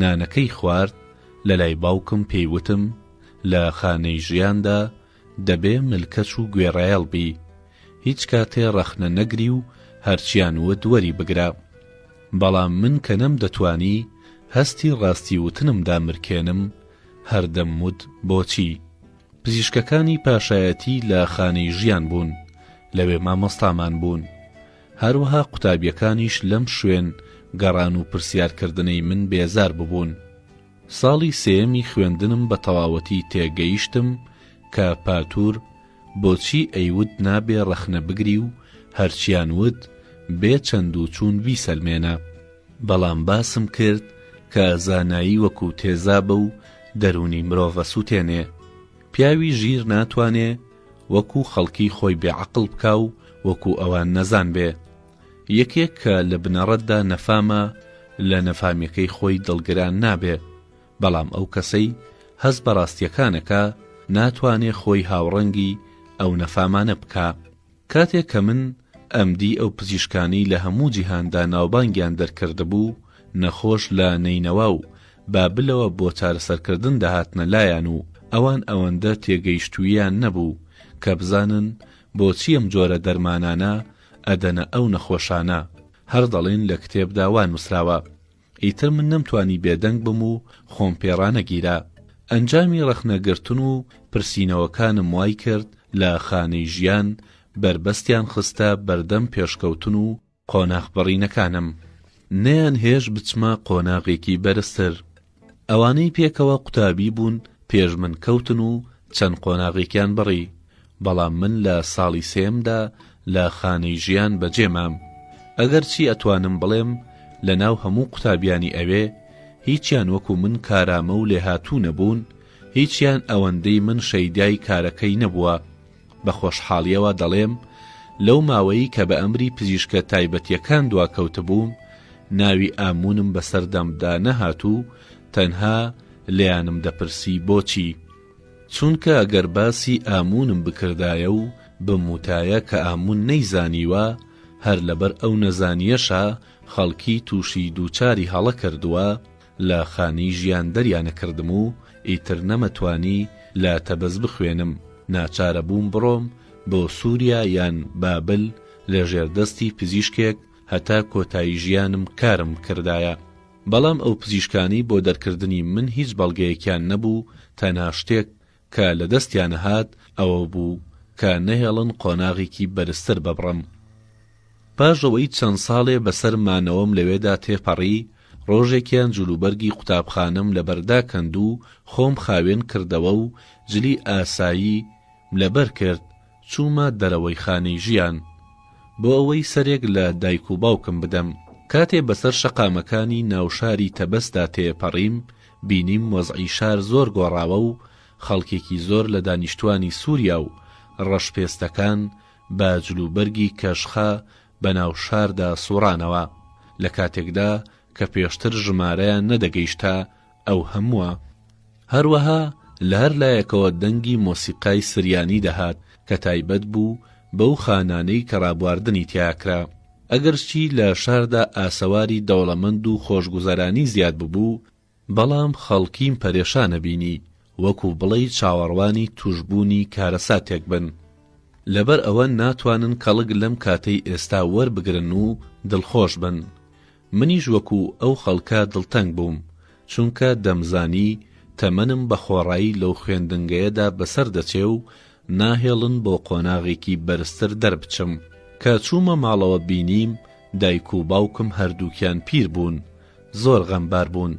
نانەکەی خوارد لەلای باوکم پێی وتم لە خانەی ژیاندا دەبێ ملکەچ و گوێڕایەڵ بی هیچ کاتێ ڕەخنە نەگری و هەرچیان وت وەری بگرە بەڵام من کە نەم دەتوانی هەستی ڕاستی وتنم دامرکێنم هەر دەم وت بۆچی پزیشکەکانی پاشایەتی لە خانەی ژیان بوون لەوێ مامۆستامان بوون هەروەها قوتابیەکانیش لەم شوێن گەڕان و پرسیار کردنەی من بێزار ببوون. ساڵی سێیەمی خوێندنم بە تەواوەتی تێگەیشتم کە پاتور بۆچی ئەیوت نابێ ڕەخنە بگری و هەرچیان وت بێ چەند و چوون بیسەلمێنە، بەڵام باسم کرد کە زانایی وەکو تێزابە و دەروونی مرۆڤ ئەسوتێنێ، پیاوی ژیر ناتوانێ، وەکو خەڵکی خۆی بێ عەقڵ بکا و وەکو ئەوان نەزان بێ. یەکێک کە لە بنەڕەتدا نەفامە لە نەفامیەکەی خۆی دڵگران نابێ، بەڵام ئەو کەسەی هەست بە ڕاستیەکان ئەکا ناتوانێ خۆی هاوڕەنگی ئەو نەفامانە بکا. کاتێ کە من ئەمدی ئەو پزیشکانەی لە هەموو جیهاندا ناوبانگیان دەرکردبوو نەخۆش لە نەینەوا و بابلەوە بۆ چارەسەرکردن دەهاتنە لایان و ئەوان ئەوەندە تێگەیشتووییان نەبوو کە بزانن بۆچی ئەم جۆرە دەرمانانە ئەدەنە ئەو نەخۆشانە، هەر دەڵێن لە کتێبدا وا نووسراوە. ئیتر من نەمتوانی بێدەنگ بم و خۆم پێ ڕانەگیرا. ئەنجامی ڕەخنەگرتن و پرسینەوەکانم وای کرد لە خانەی ژیان بەربەستیان خستە بەردەم پێشکەوتن و قۆناغ بڕینەکانم نەیان هێشت بچمە قۆناغێکی بەرزتر ئەوانەی پێکەوە قوتابی بوون پێش من کەوتن و چەند قۆناغێکیان بڕی بەڵام من لە ساڵی سێمدا لە خانەی ژیان بەجێ مام ئەگەر چی ئەتوانم بڵێم لە ناو هەموو قوتابیانی ئەوێ هیچیان وەکو من کارامە و لێهاتوو نەبوون هیچیان ئەوەندەی من شەیدای کارەکەی نەبووە بە خۆشحاڵیەوە دەڵێم لەو ماوەی کە بە ئەمری پزیشکە تایبەتیەکان دواکەوتبووم ناوی ئامونم بەسەر دەمدا نەهات و تەنها لێیانم دەپرسی بۆچی؟ چونکە گەر باسی ئامونم بکردایە و بموتایە کە ئامون نەیزانیوە هەر لەبەر ئەو نەزانیەشە خەڵکی توشی دووچاری هەڵە کردووە، لە خانی ژیان دەریانەکردم و ئیتر نەمەتوانی لە تەبەز بخوێنم، ناچارە بووم بڕۆم بۆ سوریا یان بابل لە ژێر دەستی پزیشکێک هەتا کۆتایی ژیانم کارم بکردایە. بەڵام ئەو پزیشکانەی بۆ دەرکردنی من هیچ بەڵگەیەکیان نەبوو تەنها شتێک کە لە دەستیانە هات ئەوە بوو کە نەهێڵن قۆناغێکی بەرزتر ببڕم. پاش ئەوەی چەند ساڵێ بە سەر مانەوەم لەوێدا تێپەڕی، ڕۆژێکیان جلوبەرگی قوتابخانەم لە بەر داکەند و خۆم خاوێن کردەوە و جلی ئاسایی م لە بەر کرد، چوومە دەرەوەی خانەی ژیان بۆ ئەوەی سەرێک لە دایک و باوکم بدەم. کاتێ بەسەر شەقامەکانی ناو شاری تەبەسدا تێپەڕیم، بینیم وەزعی شار زۆر گۆڕاوە و خەڵکێکی زۆر لە دانیشتووانی سووریا و ڕەشپێستەکان بە جلوبەرگی کەشخە بەناو شاردا سووڕانەوە، لە کاتێکدا کە پێشتر ژمارەیان نەدەگەیشتە ئەو هەمووە. هەروەها لە هەر لایەکەوە دەنگی مۆسیقای سریانی دەهات کە تایبەت بوو بەو خانانەی کە ڕابواردنی تیا کرا. ئەگەرچی لە شاردا ئاسەواری دەوڵەمەند و خۆشگوزەرانی زیاد ببوو، بەڵام خەڵکیم پەرێشان نەبینی، وەکو بڵێی چاوەڕوانی تووشبوونی کارەساتێک بن. لەبەر ئەوە ناتوانن کەڵک لەم کاتەی ئێستا وەربگرن و دڵخۆش بن. منیش وەکو ئەو خەڵکە دڵتەنگ بووم، چونکە دەمزانی تەمەنم بە خۆڕایی لەو خوێندنگەیەدا بەسەر دەچێ و ناهێڵن بۆ قۆناغێکی بەرزتر دەربچم. کە چوومە ماڵەوە بینیم دایک و باوکم هەردووکیان پیر بوون، زۆر غەمبار بوون.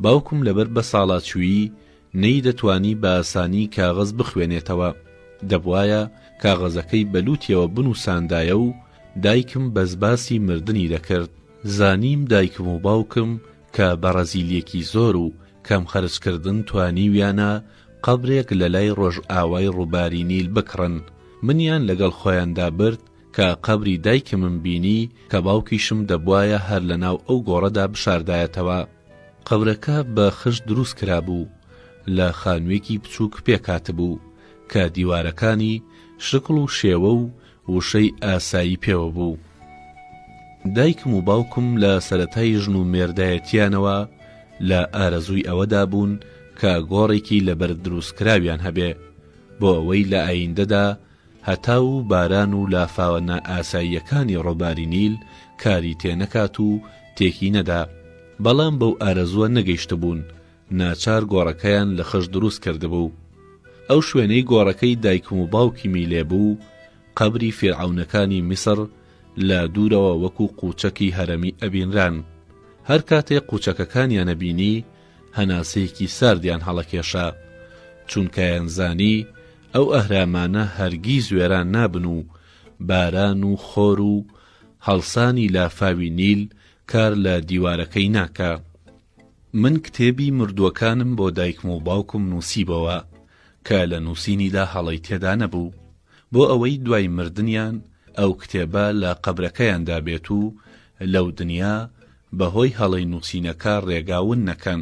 باوکم لەبەر بەساڵاچوویی نەیدەتوانی بە ئاسانی کاغەز بخوێنێتەوە، دەبوایە کاغەزەکەی بە لووتیەوە بنووساندایە و دایکم بەس باسی مردنی دەکرد. زانیم دایکم و باوکم کە بە ڕەزیلیەکی زۆر و کەم خەرجکردن توانیویانە قەبرێک لە لای ڕۆژئاوای ڕووباری نیل بکڕن، منیان لەگەڵ خۆیاندا برد کە قەبری دایکمم بینی کە باوکیشم دەبوایە هەر لە ناو ئەو گۆڕەدا بشاردایەتەوە. قەبرەکە بە خشت دروست کرابوو، لە خانوویەکی بچووک پێک هاتبوو، کە دیوارەکانی شکڵ و شێوە و وشەی ئاسایی پێوە بوو. دایکم و باوکم لە سەرەتای ژن و مێردایەتییانەوە لە ئارەزووی ئەوەدا بوون کە گۆڕێکی لەبەرد دروست کراویان هەبێ، بۆ ئەوەی لە ئایندەدا هەتاو و باران و لافاوە نائاساییەکانی ڕۆباری نیل کاری تێنەکات و تێکی نەدا، بەڵام بەو ئارەزووە نەگەیشتبوون، ناچار گۆڕەکەیان لە خەش دروست کردبوو. ئەو شوێنەی گۆڕەکەی دایکم و باوکیمی لێ بوو، قەبری فیرعەونەکانی میسڕ لە دوورەوە وەکوو قووچەکی هەرەمی ئەبینران. هەر کاتێ قووچەکەکانیان ئەبینی، هەناسەیەکی ساردیان هەڵەکێشا، چونکایانزانی، ئەو ئەهرامانە هەرگیز وێران نابن و باران و خۆر و هەڵسانی لافاوی نیل کار لە دیوارەکەی ناکا. من کتێبی مردووەکانم بۆ دایکم و باوکم نووسیبەوە کە لە نووسینیدا هەڵەی تێدا نەبوو، بۆ ئەوەی دوای مردنیان ئەو کتێبە لە قەبرەکەیاندا بێت و لەو دنیا بەهۆی هەڵەی نووسینەکە ڕێگا ون نەکەن.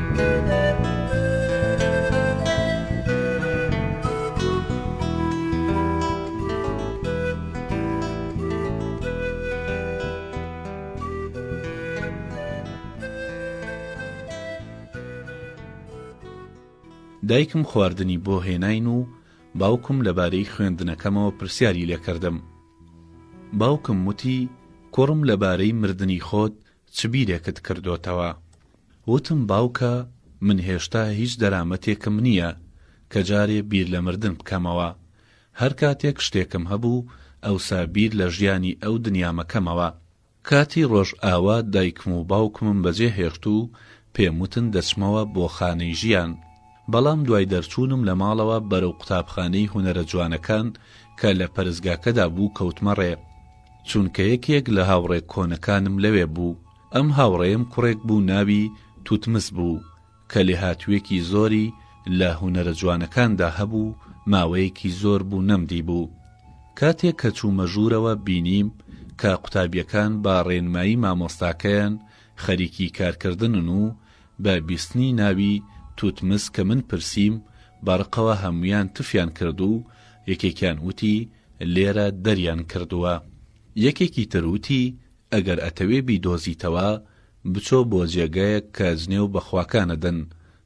دایکم خواردنی بۆ هێناین و باوکم لەبارەی خوێندنەکەمەوە پرسیاری لێکردم باوکم وتی کوڕم لەبارەی مردنی خۆت چ بیرێکت کردۆتەوە؟ وتم باوکە من هێشتا هیچ دەرامەتێکم نییە کە جارێ بیر لە مردن بکەمەوە. هەر کاتێک شتێکم هەبوو ئەوسا بیر لە ژیانی ئەو دنیامەکەمەوە. کاتی ڕۆژئاوا دایکم و باوکمم بەجێ هێشت و پێم وتن دەچمەوە بۆ خانەی ژیان. بەڵام دوای دەرچوونم لە ماڵەوە بەرەو قوتابخانەی هونەرە جوانەکان کە لە پەرستگاکەدا بوو کەوتمە ڕێ، چونکە یەکێک لە هاوڕێ کۆنەکانم لەوێ بوو، ئەم هاوڕێیەم کوڕێک بوو ناوی، توتمس، بوو، کە لێهاتوویەکی زۆری لە هونەرە جوانەکاندا هەبوو، ماوەیەکی زۆر بوو نەمدیبوو، کاتێک کە چوومە ژوورەوە بینیم کە قوتابییەکان بە ڕێنمایی مامۆستاکەیان خەریکی کارکردنن و بە بیستنی ناوی توتمس کە من پرسیم بەڕقەوە هەموویان تفیان کرد و یەکێکیان وتی لێرە دەریان کردووە یەکێکی تر وتی ئەگەر ئەتەوێ بیدۆزیتەوە بچۆ بۆ جێگایەک کە جنێو بە خواکانەدەن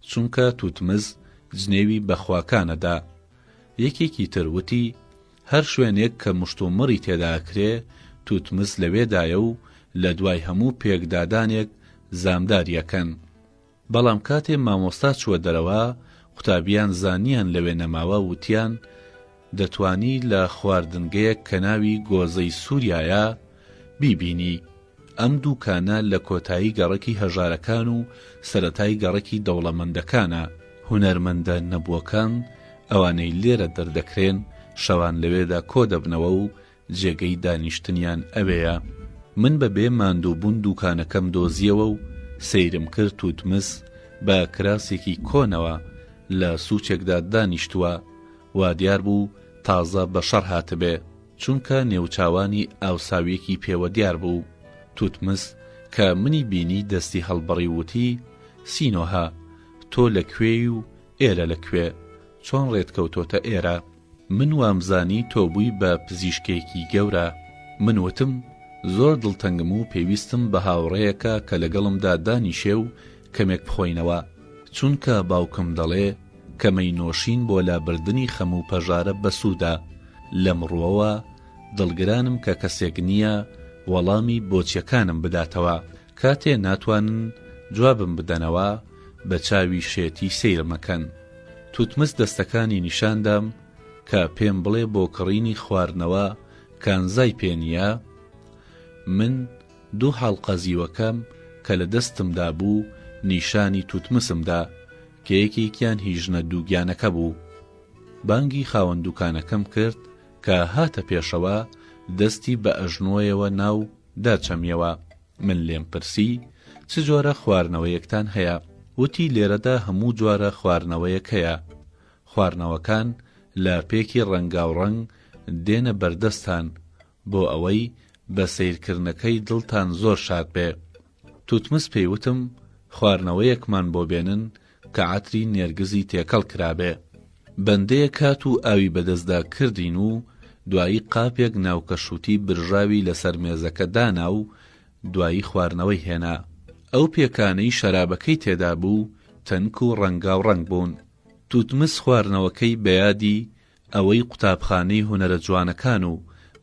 چونکە توتمس جنێوی بە خواکانەدا یەکێکی تر وتی هەر شوێنێک کە مشتومڕی تێدا ئەکرێ، توتمس لەوێدایە و لە دوای هەموو پێکدادانێک زامداری ئەکەن. بەڵام کاتێ مامۆستا چووە دەرەوە، قوتابییان زانییان لەوێ نەماوە، وتیان، دەتوانی لە خواردنگەیەک کە ناوی گۆزەی سووریایە، بیبینی. ئەم دووکانە لە کۆتایی گەڕەکی هەژارەکان و سەرەتای گەڕەکی دەوڵەمەندەکانە، هونەرمەندە نەبووەکان ئەوانەی لێرە دەردەکرێن شەوان لەوێدا کۆدەبنەوە و جێگەی دانیشتنیان ئەوێیە، من بە بێ ماندووبوون دووکانەکەم دۆزییەوە و سەیرم کرد توتمس بە کراسێکی کۆنەوە لە سوچێکدا دانیشتووە، وادیار بوو تازە بەشەڕ هاتبێ. چونکە نێوچاوانی ئاوساویەکی پێوە دیار بوو، توتمس کە منی بینی دەستی هەڵبڕی ووتی، سینۆهە، تۆ لە کوێی و ئێرە لە کوێ؟ چۆن ڕێت کەوتۆتە ئێرە؟ من وامزانی تۆ بووی بە پزیشکێکی گەورە. من ووتم، زۆر دڵتەنگم و پێویستم بە هاوڕێیەکە کە لەگەڵمدا دانیشێ و کەمێک بخۆینەوە، چونکە باوکم دەڵێ، کە مەی نۆشین بۆ لابردنی خەم و پەژارە بەسوودە، لەم ڕووەوە دڵگرانم کە کەسێک نییە وەڵامی بۆچییەکانم بداتەوە، کاتێ ناتوانن جوابم بدەنەوە بە چاوی شێتی سەیرم ئەکەن. توتمس دەستەکانی نیشان دام کە پێم بڵێ بۆ کڕینی خواردنەوە کانزای پێ نییە؟ من دوو حاڵقە زیوەکەم کە لە دەستمدا بوو نیشانی توتمسم دا، کە یەکێکیان هی ژنە دووگیانەکە بوو. بانگی خاوەن دووکانەکەم کرد کە هاتە پێشەوە، دەستی بە ئەژنۆیەوە نا و داچەمیەوە. من لێم پرسی، چ جۆرە خوارنەوەیەکتان هەیە؟ وتی لێرەدا هەموو جۆرە خوارنەوەیەک هەیە. خوارنەوەکان لە پێکی ڕەنگاوڕەنگ دێنە بەردەستتان بۆ ئەوەی بە سەیر کردنەکەی دڵتان زۆر شاد بێ توتمس پێی وتم خواردنەوەیەکمان بۆ بێنن کە عەتری نێرگزی تێکەڵ کرابێ بەندەیەک هات و ئاوی بە دەستدا کردین و دوایی قاپێک ناوکەشوتی برژاوی لە سەر مێزەکە دانا و دوایی خواردنەوەی هێنا ئەو پێکانەی شەرابەکەی تێدا بوو تەنک و ڕەنگاو ڕەنگ بوون توتمس خواردنەوەکەی بە یادی ئەوەی قوتابخانەی هونەرە جوانەکان و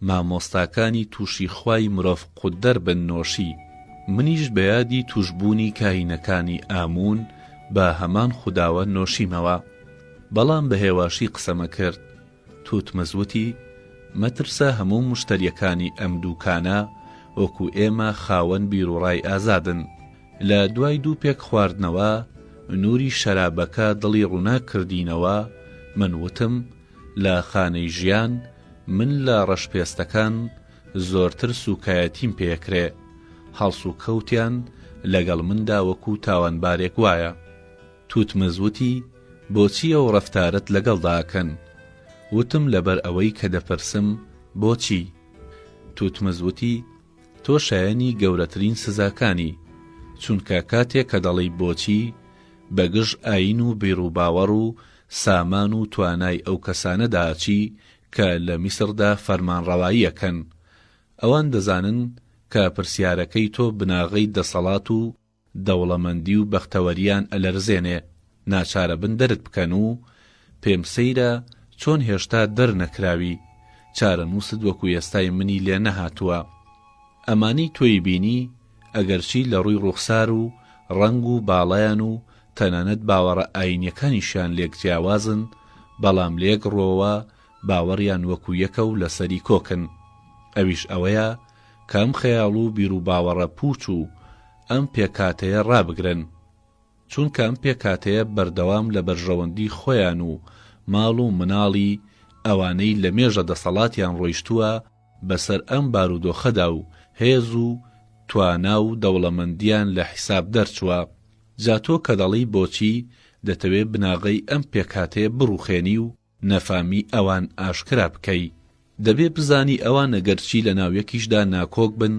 مامۆستاکانی توشی خوای مرۆڤ قوتدەر بن نۆشی منیش بەیادی توشبوونی کاهینەکانی ئاموون بە هەمان خوداوە نۆشیمەوە بەڵام بە هێواشی قسەمە کرد توتمز وتی مەترسە هەموو مشتەریەکانی ئەم دووکانە وەکو ئێمە خاوەن بیروڕای ئازادن لە دوای دوو پێک خواردنەوە نووری شەرابەکە دڵی ڕووناک کردینەوە، من وتم، لە خانەی ژیان من لە ڕەشپێستەکان زۆرتر سووکایەتیم پێکرێ، هەڵسوکەوتیان لەگەڵ مندا وەکوو تاوانبارێک وایە. توتمز وتی، بۆچی ئەو ڕەفتارەت لەگەڵدا ئەکەن؟ وتم، لەبەر ئەوەی کە دەپرسم، بۆچی؟ توتمز وتی، تۆ شایەنی گەورەترین سزاکانی، چونکە کاتێک کە دەڵێی بۆچی، بە گژ ئایین و بیروباوەڕ و سامان و توانای ئەو کەسانەدا ئەچی کە لە میسردا فەرمانڕەوایی ئەکەن. ئەوان دەزانن کە پرسیارەکەی تۆ بناغەی دەسەڵات و، دەوڵەمەندی و بەختەوەریان ئەلەرزێنێ ناچارەبن دەرت بکەن و پێم سەیرە چۆن هێشتا دەر نەکراوی چارەنووست وەکو ئێستای منی لێ نەهاتووە ئەمانەی تۆی بینی ئەگەرچی لەڕووی ڕووخسار و ڕەنگ و باڵایان و تەنانەت باوەڕە ئایینیەکانیشیان لێک جیاوازن بەڵام لەیەک ڕووەوە باوەڕیان وەکو یەکە و لەسەری کۆکن ئەویش ئەوەیە کە ئەم خەیاڵ و بیروباوەڕە پووچ و ئەم پێکهاتەیە ڕابگرن، چونکە ئەم پێکهاتەیە بەردەوام لە بەرژەوەندی خۆیان و ماڵ و مناڵی ئەوانەی لە مێژە دەسەڵاتیان ڕۆیشتووە بەسەر ئەم بارودۆخەدا و هێز و توانا و دەوڵەمەندیان لە حیساب دەرچووە، جا تۆ کە دەڵێی بۆچی دەتەوێ بناغەی ئەم پێکهاتەیە بڕوخێنی و. نەفامی ئەوان ئاشکرا بکەی دەبێ بزانی ئەوان ئەگەرچی لە ناو یەکیشدا ناکۆک بن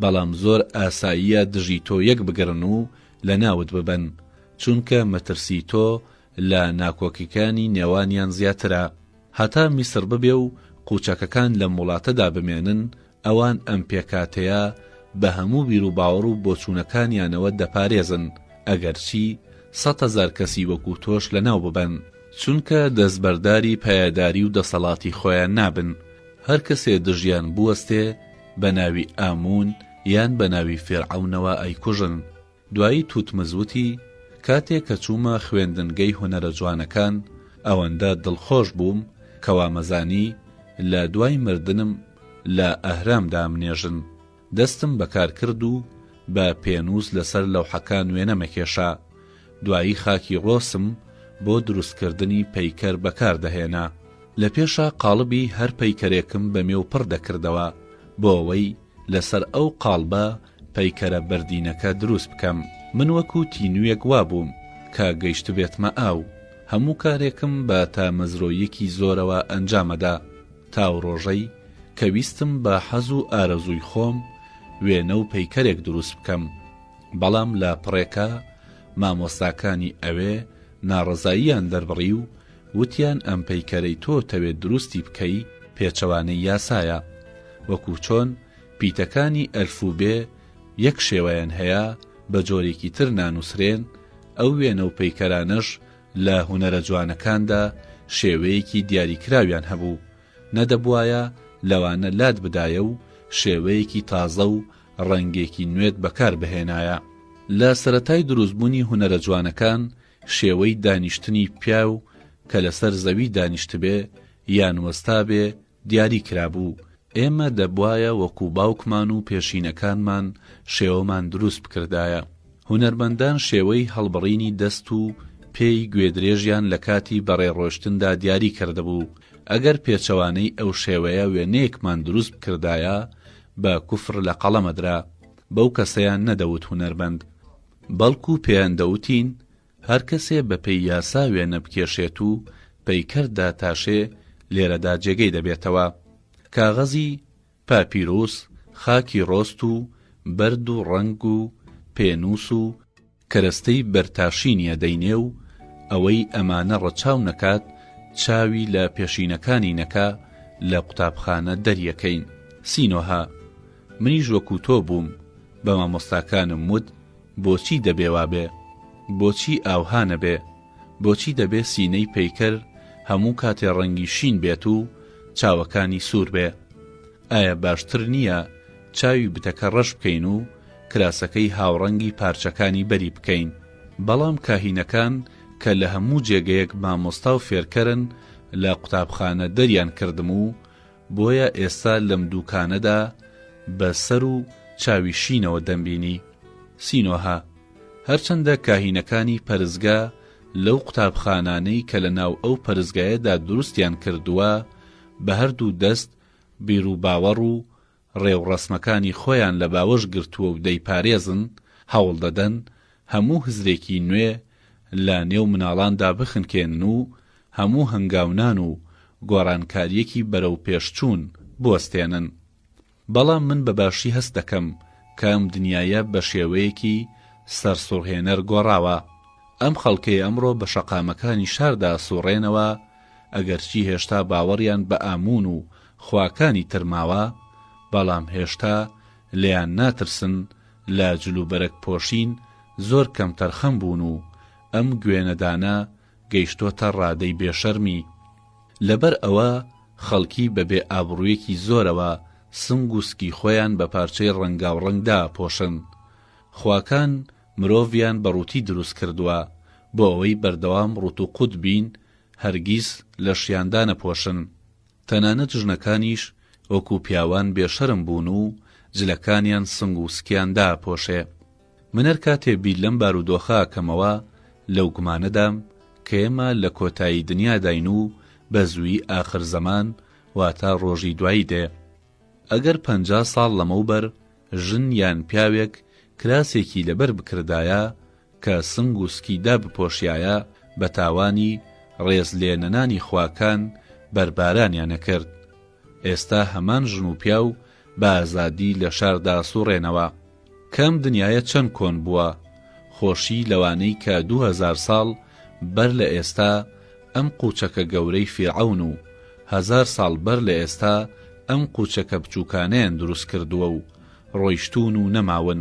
بەڵام زۆر ئاساییە دژی تۆ یەک بگرن و لە ناوت ببەن چونکە مەترسی تۆ لە ناکۆکیکانی نێوانیان زیاترە هەتا میسر ببێ و قوچەکەکان لەم وڵاتەدا بمێنن ئەوان ئەم پێکهاتەیە بە هەموو بیروباوەڕ و بۆچوونەکانیانەوە دەپارێزن، ئەگەرچی سەد هەزار کەسی وەکو تۆش لەناو ببەن، چونکە دەستبەرداری پایەداری و دەسەڵاتی خۆیان نابن، هەر کەسێ دژیان بوەستێ بە ناوی ئاموون یان بە ناوی فیرعەونەوە ئەیکوژن. دوایی توتمز وتی، کاتێ کە چوومە خوێندنگەی هونەرە جوانەکان، ئەوەندە دڵخۆش بووم کە وامەزانی لە دوای مردنم لە ئەهرام دامنێژن. دەستم بەکار کرد و بە پێنووس لەسەر لەوحەکان وێنەمە کێشا. دوایی خاکی ڕۆسم بۆ دروستکردنی پەیکەر بەکار دەهێنا. لە پێشا قاڵبی هەر پەیکەرێکم بە مێو پڕ دەکردەوە بۆ ئەوەی لەسەر ئەو قاڵبە پەیکەرە بەردینەکە دروست بکەم. من وەکو تینوویەک وابووم کە گەیشتبێتمە ئاو، هەموو کارێکم بە تامەزرۆییەکی زۆرەوە ئەنجامەدا، تاوڕۆژەی کە ویستم بە حەز و ئارەزووی خۆم وێنە و پەیکەرێک دروست بکەم، بەڵام لە پڕێکا مامۆستاکانی ئەوێ ناڕەزاییان دەربڕی و وتیان ئەم پەیکەرەی تۆ تەوێت دروستی بکەی پێچەوانەی یاسایە، وەکو چۆن پیتەکانی ئەلف و بێ یەک شێوەیان هەیە، بە جۆرێکی تر نانووسرێن، ئەو وێنە و پەیکەرانەش لە هونەرە جوانەکاندا شێوەیەکی دیاریکراویان هەبوو، نەدەبوایە لەوانە لات بدایە و شێوەیەکی تازە و ڕەنگێکی نوێت بەکار بهێنایە. لە سەرەتای دروستبوونی هونەرە جوانەکان شێوەی دانیشتنی پیاو کە لەسەر زەوی دانیشتبێ یان وەستابێ دیاری کرابوو، ئێمە دەبوایە وەکو باوکمان و پێشینەکانمان شێوەمان دروست بکردایە، هونەرمەندان شێوەی هەڵبڕینی دەست و پێی گوێدرێژیان لە کاتی بەڕێ ڕۆشتندا دیاری کردبوو، ئەگەر پێچەوانەی ئەو شێوەیە وێنەیەکمان دروست بکردایە بە کفر لە قەڵەمەدرا، بەو کەسەیان نەدەوت هونەرمەند، بەڵکو پێیان دەوتین هەر کەسێ بە پێی یاسا وێنە بکێشێت و پەیکەر داتاشێ لێرەدا جێگەی دەبێتەوە. کاغەزی، پاپیروس، خاکی رۆست و بەرد و رەنگ و پێنووس و، کەرەستەی بەرتاشی نیە دەینێ و ئەوەی ئەمانە رەچاو نەکات چاوی لە پێشینەکانی نەکا لە قوتابخانە دەریەکەین. سینۆهە، منیش وەکو تۆ بووم، بە مامۆستاکانم وت، بۆچی دەبێ وابێ؟ بۆچی ئاوها نەبێ؟ بۆچی دەبێ سینەی پەیکەر هەموو کاتێ ڕەنگی شین بێت و چاوەکانی سوور بێ؟ ئایا باشتر نییە چاوی بتەکە ڕەش بکەین و کراسەکەی هاوڕەنگی پارچەکانی بەری بکەین؟ بەڵام کاهینەکان کە لە هەموو جێگەیەک مامۆستا و فێرکەرن لە قوتابخانە دەریان کردم و بۆیە ئێستا لەم دووکانەدا بە سەر و چاوی شینەوە دەمبینی. سینۆهە، هەرچەندە کاهینەکانی پەرستگا لەو قوتابخانانەی کە لە ناو ئەو پەرستگایەدا دروستیان کردووە، بە هەر دوو دەست بیروباوەڕ و ڕێوڕەسمەکانی خۆیان لە باوەش گرتووە و دەیپارێزن، هەوڵ دەدەن هەموو هزرێکی نوێ لە نێو مناڵاندا بخنکێنن و هەموو هەنگاونان و گۆڕانکارییەکی بەرەوپێشچوون بوەستێنن. بەڵام من بە باشی هەست دەکەم کە ئەم دنیایە بە شێوەیەکی سەرسوڕهێنەر گۆڕاوە. ئەم خەڵکەی ئەمڕۆ بە شەقامەکانی شاردا سوڕێنەوە، ئەگەرچی هێشتا باوەڕیان بە ئاموون و خواکانی تر ماوە، بەڵام هێشتا لێیان ناترسن، لە جلوبەرگ پۆشین زۆر کەمتەرخەم بوون و ئەم گوێنەدانە گەیشتۆتە ڕادەی بێ شەرمی لەبەر ئەوە خەڵکی بە بێ ئابڕویەکی زۆرەوە سنگ و سکی خۆیان بە پارچەی ڕەنگاو ڕەنگ دا پۆشن خواکان مرۆڤیان بە ڕوتی دروست کردوە بۆ ئەوەی بەردەوام ڕوت و قوت بین هەرگیز لەشیان دانە پۆشن تەنانەت ژنەکانیش وەکو پیاوان بێ شەرم بون و جلەکانیان سنگ و سکیان دا پۆشێ. من هەر کاتێ بیر لەم بارودۆخە ئەکەمەوە لەو گومانەدام کە ئێمە لە کۆتایی دنیاداین و بە زوویی ئاخر زەمان واتە ڕۆژی دوایی دێ. ئەگەر پەنجا ساڵ لەمەوبەر ژن یان پیاوێک کراسێکی لەبەر بکردایە کە سنگ و سکی دابپۆشیایە بە تاوانی ڕێز لێ نەنانی خواکان بەربارانیان ئەکرد. ئێستا هەمان ژن و پیاو بە ئازادی لە شاردا سوڕێنەوە. کە ئەم دنیایە چەند کۆن بووە، خۆشی لەوانەی کە دوو هەزار ساڵ بەر لە ئێستا ئەم قوچەکە گەورەی فیرعەون و هەزار ساڵ بەر لە ئێستا ئەم قوچەکە بچوکانەیان دروست کردووە و ڕۆیشتوون و نەماون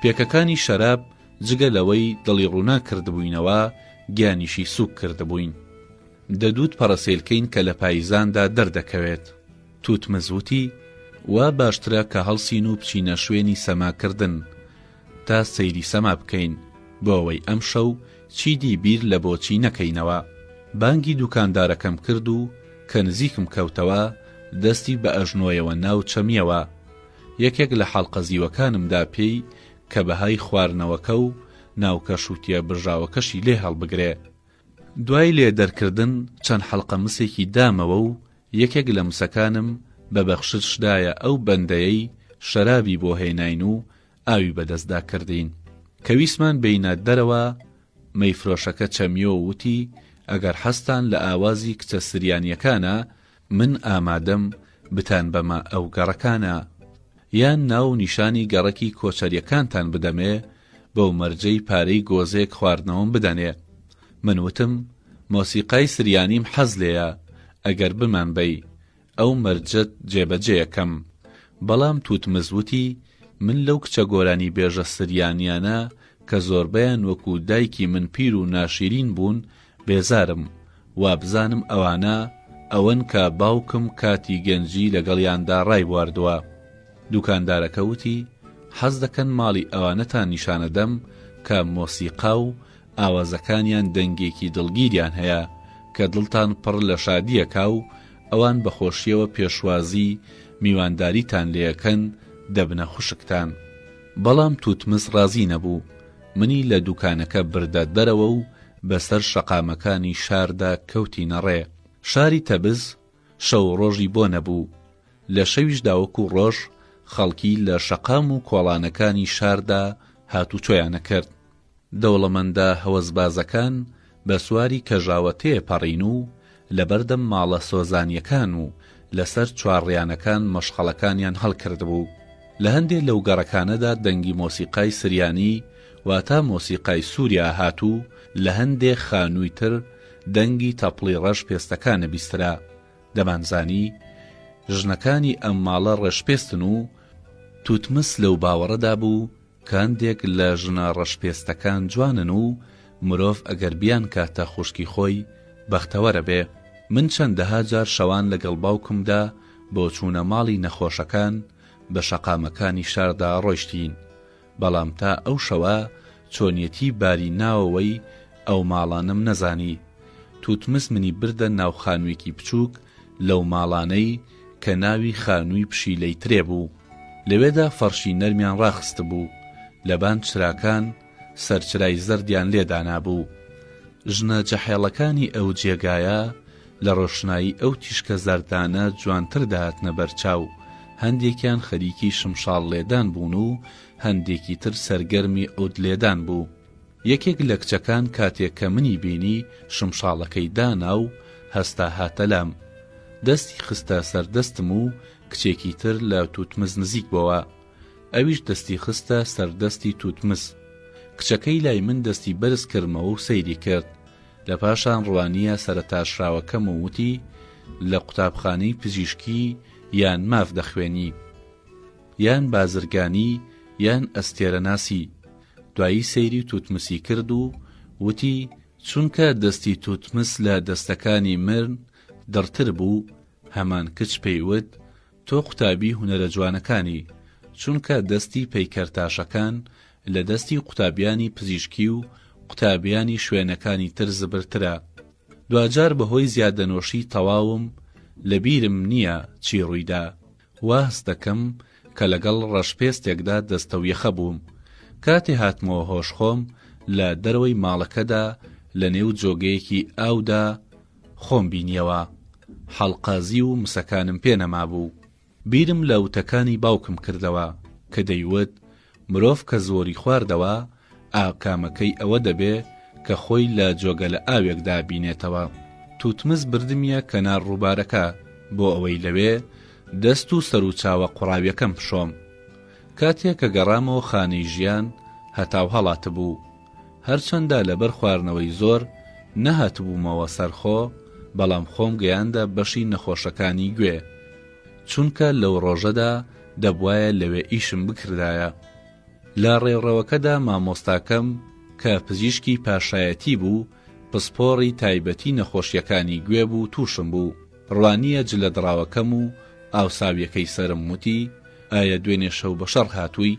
پێکەکانی شەراب جگە لەوەی دڵی ڕووناک کردبووینەوە، گیانیشی سووک کردبووین. دەدووت پەڕەسێلکەین کە لە پاییزاندا دەردەکەوێت. تووتمز وتی، وا باشترە کە هەڵسین و بچینە شوێنی سەماکردن. تا سەیری سەما بکەین بۆوەی ئەمشەو چیدی بیر لە بۆچی نەکەینەوە بانگی دوکاندارەکەم کرد و کە نزیکم کەوتەوە دەستی بە ئەژنۆیەوە ناو چەمیەوە یەکێک لە حەڵقە زیوەکانم دا پێی کە بەهای خواردنەوەکە و ناوکە شوتیە برژاوەکەشی لێ هەڵبگرێ دوای لێ دەرکردن چەند حەڵقە مسێکی دامەوە و یەکێک لە مسەکانم بە بەخشش دایە ئەو بەندەیەی شەرابی بۆ هێناین و ئاوی بەدەستدا کردین. کە ویستمان بێینە دەرەوە مەیفرۆشەکە چەمیۆ و وتی ئەگەر حەزتان لە ئاوازی کچە سریانیەکانە من ئامادەم بتان بەمە ئەو گەڕەکانە یان ناو و نیشانی گەڕەکی کۆچەریەکانتان بدەمێ بەو مەرجەی پارەی گۆزێک خواردنەوەم بدەنێ من وتم مۆسیقای سریانیم حەز لێیە ئەگەر بمان بەی ئەو مەرجەت جێبەجێەکەم بەڵام توتمز وتی من لەو کچە گۆرانی بێژە سریانیانە کە زۆربەیان وەکو دایکی من پیر و ناشیرین بوون بێزارم وابزانم ئەوانە ئەوەن کە باوکم کاتی گەنجی لەگەڵیاندا ڕایبواردوە. دوکاندارەکە وتی، حەزدەکەن ماڵی ئەوانەتان نیشانەدەم کە مۆسیقا و ئاوازەکانیان دەنگێکی دڵگیریان هەیە کە دڵتان پڕ لە شادییەکا و ئەوان بە خۆشییەوە پێشوازی میوانداریتان لێەکەن دەبنە خوشکتان. بەڵام توتمس ڕازی نەبوو. منی لە دوکانەکە بردە دەرەوە و بەسەر شەقامەکانی شاردا کەوتینە ڕێ. شاری تەبز شەو و ڕۆژی بۆ نەبوو. لە شەویشدا وەکوو ڕۆژ خەڵکی لە شەقام و کۆڵانەکانی شاردا هاتوچۆیان ئەکرد. دەوڵەمەندە هەوەسبازەکان بە سواری کەژاوە تێ پەڕین و لە بەردەم ماڵە سۆزانیەکان و لە سەر چوارڕیانەکان مەشخەڵەکانیان هەڵکردبوو. لە هەندێ لەو گەڕەکانەدا دەنگی مۆسیقای سریانی واتا مۆسیقای سووریا هات و لە هەندێ خانووی تر دەنگی تەپڵی ڕەش پێستەکانە بیسترا. دەمانزانی ژنەکانی ئەم ماڵە ڕەشپێستن و توتمس لەو باوەڕەدا بوو کاندێک لە ژنە ڕەشپێستەکان جوانن و مرۆڤ ئەگەر بیانکاتە خوشکی خۆی بەختەوەرەبێ، من چەندەها جار شەوان لەگەڵ باوکمدا بۆ چوونە ماڵی نەخۆشەکان بە شەقامەکانی شاردا ڕۆیشتین، بەڵام تا ئەو شەوە چۆنیەتی باری ناوەوەی ئەو ماڵانەم نەزانی، توتمس منی بردە ناو خانوێکی بچووک لەو ماڵانەی، کە ناوی خانووی پشیلەی ترێ بوو، لەوێدا فەڕشی نەرمیان ڕاخستبوو، لەبان چراکان سەرچرای زەردیان لێ دانابوو. ژنە جەحێڵەکانی ئەو جێگایە لە ڕۆشنایی ئەو تیشکە زەردانە جوانتر دەهاتنە بەرچاو، هەندێکیان خەریکی شمشاڵ لێدان بوون و هەندێکی تر سەرگەرمی عود لێدان بوو. یەکێک لە کچەکان کاتێک کە منی بینی شمشاڵەکەی دانا و هەستا هاتە لام. دەستی خستە سەر دەستم و کچێکی تر لە توتمس نزیک بۆوە. ئەویش دەستی خستە سەر دەستی توتمس. کچەکەی لای من دەستی بەرز کردمەوە و سەیری کرد. لە پاشان ڕوانییە سەرتاشراوەکەم و وتی، لە قوتابخانەی پزیشکی یان ماف دەخوێنی؟ یان بازرگانی یان ئەستێرەناسی؟ دوایی سەیری توتمسی کرد و وتی، چونکە دەستی توتمس لە دەستەکانی مرن دڕتر بوو، هەمان کچ پێی وت، تۆ قوتابی هونەرە جوانەکانی، چونکە دەستی پەیکەر تاشەکان لە دەستی قوتابیانی پزیشکی و قوتابیانی شوێنەکانی تر زبرترە. دواجار بەهۆی زیادەنۆشی تەواوم لە بیرم نییە چی ڕوویدا، واهەست دەکەم کە لەگەڵ ڕەشپێستێکدا دەستەویەخە بووم. کاتێ هاتمەوە هۆش خۆم لە دەرەوەی ماڵەکەدا لە نێو جۆگەیەکی ئاودا خۆم بینیەوە. حەڵقازی و مسەکانم پێ نەمابوو. بیرم لە وتەکانی باوکم کردەوە کە دەیوت مرۆڤ کە زۆری خواردەوە ئاکامەکەی ئەوە دەبێ کە خۆی لە جۆگەلە ئاوێکدا بینێتەوە، توتمز بردمیە کەنار ڕووبارەکە بۆ ئەوەی لەوێ دەست و سەر و چاوە قوڕاویەکەم بشۆم. کاتێ کە گەڕامەوە خانەی ژیان هەتاو هەڵاتبوو. هەرچەندە لەبەر خواردنەوەی زۆر نەهاتبوومەوە سەر خۆ بەڵام خۆم گەیاندە بەشی نەخۆشەکانی گوێ. چونکە لەو ڕۆژەدا دەبوایە لەوێ ئیشم بکردایە. لە ڕێڕەوەکەدا مامۆستاکەم، کە پزیشکی پاشایەتی بوو، پسپۆڕی تایبەتی نەخۆشییەکانی گوێ بوو تووشم بوو، ڕوانییە جلە دڕاوەکەم و ئاوساوییەکەی سەرم وتی، ئایە دوێنێ شەو بە شەڕ هاتووی؟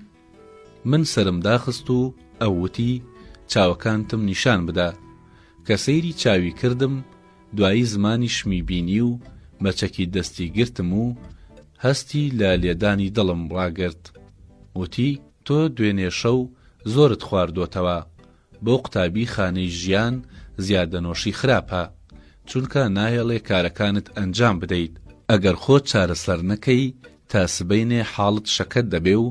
من سەرم داخست و ئەو وتی، چاوەکانتم نیشان بدە. کە سەیری چاوی کردم، دوایی زمانیشمی بینی و بە چەکی دەستی گرتم و هەستی لە لێدانی دڵم ڕاگرت. وتی، تۆ دوێنێ شەو زۆرت خواردۆتەوە. بۆ قوتابی خانەی ژیان زیادەنۆشی خراپە چونکە ناهێڵێ کارەکانت ئەنجام بدەیت ئەگەر خۆت چارەسەر نەکەی تا سبەینێ حاڵت شەکەت دەبێ و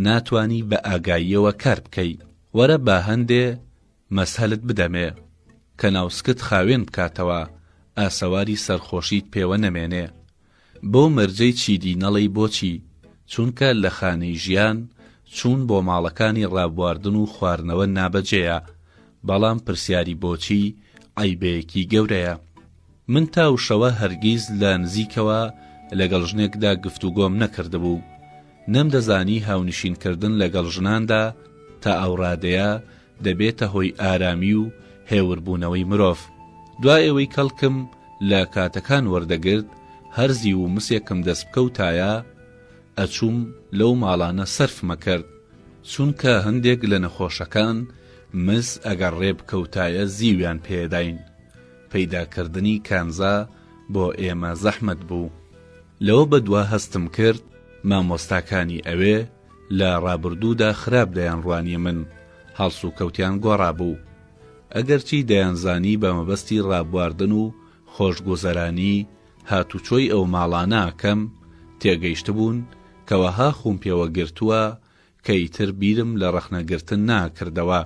ناتوانی بە ئاگاییەوە کار بکەی وەرە با هەندێ مەسهەلت بدەمێ کە ناوسکت خاوێن بکاتەوە ئاسەواری سەرخۆشیت پێوە نەمێنێ بۆ مەرجەی چیدی نەڵێی بۆچی چونکە لە خانەی ژیان چوون بۆ ماڵەکانی ڕابواردن و خوارنەوە نابەجێیە بەڵام پرسیاری بۆچی عەیبەیەکی گەورەیە من تا وشەوە هەرگیز لە نزیکەوە لەگەڵ ژنێکدا گفتوگۆم نەکردبوو نەمدەزانی هاونشین کردن لەگەڵ ژناندا تا ئەو ڕادەیە دەبێتە هۆی ئارامی و هێور بوونەوەی مرۆڤ، دوائەوەی کەڵکم لە کاتەکان وەردەگرت هەر زیو و مسێکم دەست بکەوتایە ئەچووم لەو ماڵانە سەرفمەکرد، چونکە هەندێک لە نەخۆشەکان مس ئەگەر ڕێ بکەوتایە زیویان پێداین، پەیدا کردنی کانزا بۆ ئێمە زەحمەت بوو. لەوە بەدوا هەستم کرد مامۆستاکانی ئەوێ لە ڕابردوودا خراپ دەیانڕوانی من، هەڵسوکەوتیان گۆڕابوو. ئەگەرچی دەیانزانی بە مەبەستی ڕابواردن و خۆشگوزەرانی هاتوچۆی ئەو ماڵانە ئەکەم، تێگەیشتبوون کە وەها خووم پێوە گرتووە کە ئیتر بیرم لە ڕەخنەگرتن نەئەکردەوە.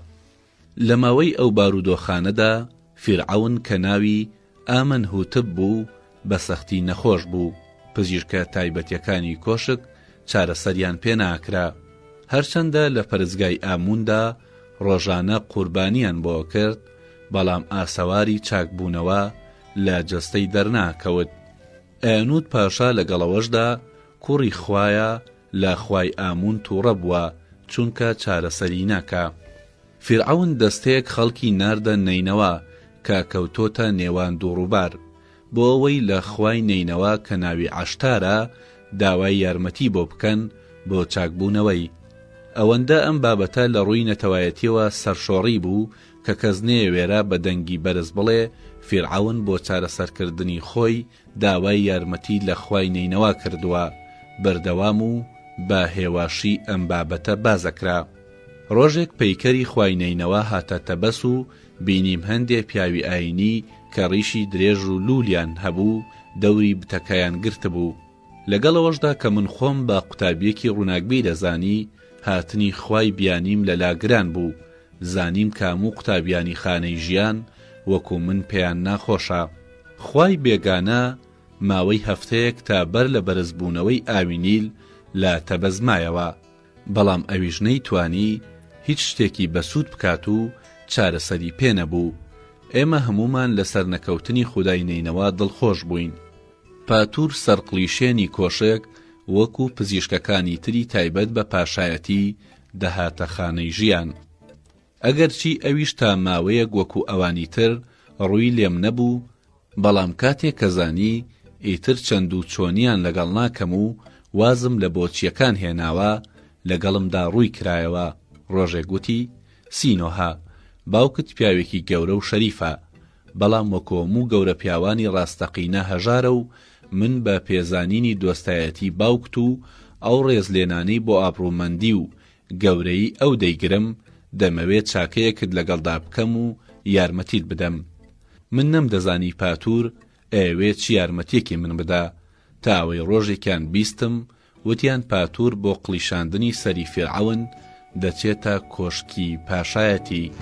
لە ماوەی ئەو بارودۆخانەدا فیرعەون کە ناوی، ئامن هوتب، بوو، بە سەختی نەخۆش بوو، پزیشکە تایبەتیەکانی کۆشک چارەسەریان پێ ناکرا، هەرچەندە لە پەرستگای ئاموندا ڕۆژانە قوربانیان بۆ ئەکرد، بەڵام ئاسەواری چاکبوونەوە لە جەستەی دەرناکەوت. ئەنوت پاشا لەگەڵ ئەوەشدا کوڕی خوایە، لە خوای ئامون توڕە بوە چونکە چارەسەری ناکا فیرعەون دەستەیەک خەڵکی ناردە نەینەوا کە کەوتۆتە نێوان دوو ڕوبار بۆ ئەوەی لە خوای نەینەوا کە ناوی عەشتارە داوای یارمەتی بۆ بکەن بۆ چاک بونەوەی ئەوەندە ئەم بابەتە لە ڕوی نەتەوایەتیەوە سەرشۆڕی بوو کە کەس نەیەوێرا بە دەنگی بەرز بڵێ فیرعەون بۆ چارەسەرکردنی خۆی داوای یارمەتی لە خوای نەینەوا کردووە بەردەوام و بە هێواشی ئەم بابەتە باس ئەکرا ڕۆژێک پەیکەری خوای نەینەوا هاتە تەبەس و بینیم هەندێ پیاوی ئاینی کە ڕیشی درێژ و لوولیان هەبوو دەوری بتەکەیان گرتبوو لەگەڵەوەشدا کە من خۆم بە قوتابیەکی ڕووناکبیر دەزانی هاتنی خوای بیانیم لە لا گران بوو زانیم کاموو قوتابیانی خانەی ژیان وەکو من پێیان ناخۆشە. خوای بێگانە ماوەی هەفتەیەک تا بەر لە بەرزبوونەوەی ئاوی نیل لە تەبەز مایەوە، بەڵام ئەویش نەیتوانی هیچ شتێکی بەسوود بکات و چارەسەری پێ نەبوو، ئێمە هەموومان لە سەرنەکەوتنی خودای نەینەوا دڵخۆش بووین. پاتور سەرقڵیشێنی کۆشک وەکوو پزیشکەکانی تری تایبەت بە پاشایەتی دەهاتە خانەی ژیان. ئەگەرچی ئەویش تا ماوەیەک وەکو ئەوانی تر ڕووی لێم نەبوو، بەڵام کاتێک کە زانی ئیتر چەند و چۆنیان لەگەڵ ناکەم و وازم لە بۆچییەکان هێناوە، لەگەڵمدا ڕووی کرایەوە، ڕۆژێک وتی، سینۆهە، باوکت پیاوێکی گەورە و شەریفە، بەڵام وەکو هەموو گەورە پیاوانی ڕاستەقینە هەژارە و من بە پێزانینی دۆستایەتی باوکت و ئەو ڕێزلێنانەی بۆ ئابڕوومەندی و گەورەیی ئەو دەیگرم، دەمەوێ چاکەیەکت لەگەڵدا بکەم و یارمەتیت بدەم. من نەمدەزانی پاتور ئەیەوێ چ یارمەتیەکی من بدا، تا ئەوەی ڕۆژێکیان بیستم وتیان پاتور بۆ قڵیشاندنی سەری فیرعەون دەچێتە کۆشکی پاشایەتی.